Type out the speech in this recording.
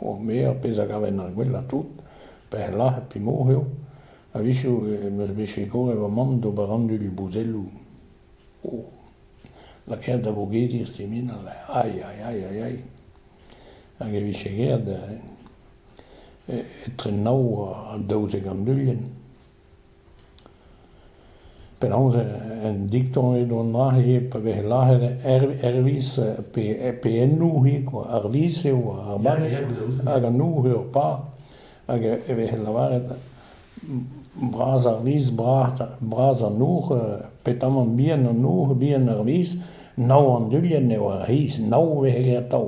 Ur ger, pezh a gaven ar gwellañ tout, perlaz ha pimour eo, a-wechoù em eus bet sikoret va mamm d'ober anduilh-bouzelloù. O, lakaet da vogediñ e siminal, ay, ay, ay, ay, ay. Hag e vije graet etre nav ha daouzek anduilhenn. Penaos en diktañ edon aze pa vez lazhet Hervez peennoù eo ar viz eo ar banne hag an nour eo ar pab hag e vez lavaret bras ar viz bras an nour petamant bihan an nour bihan ar viz nav an dulien eo ar c'hiz nav 'vez graet atav.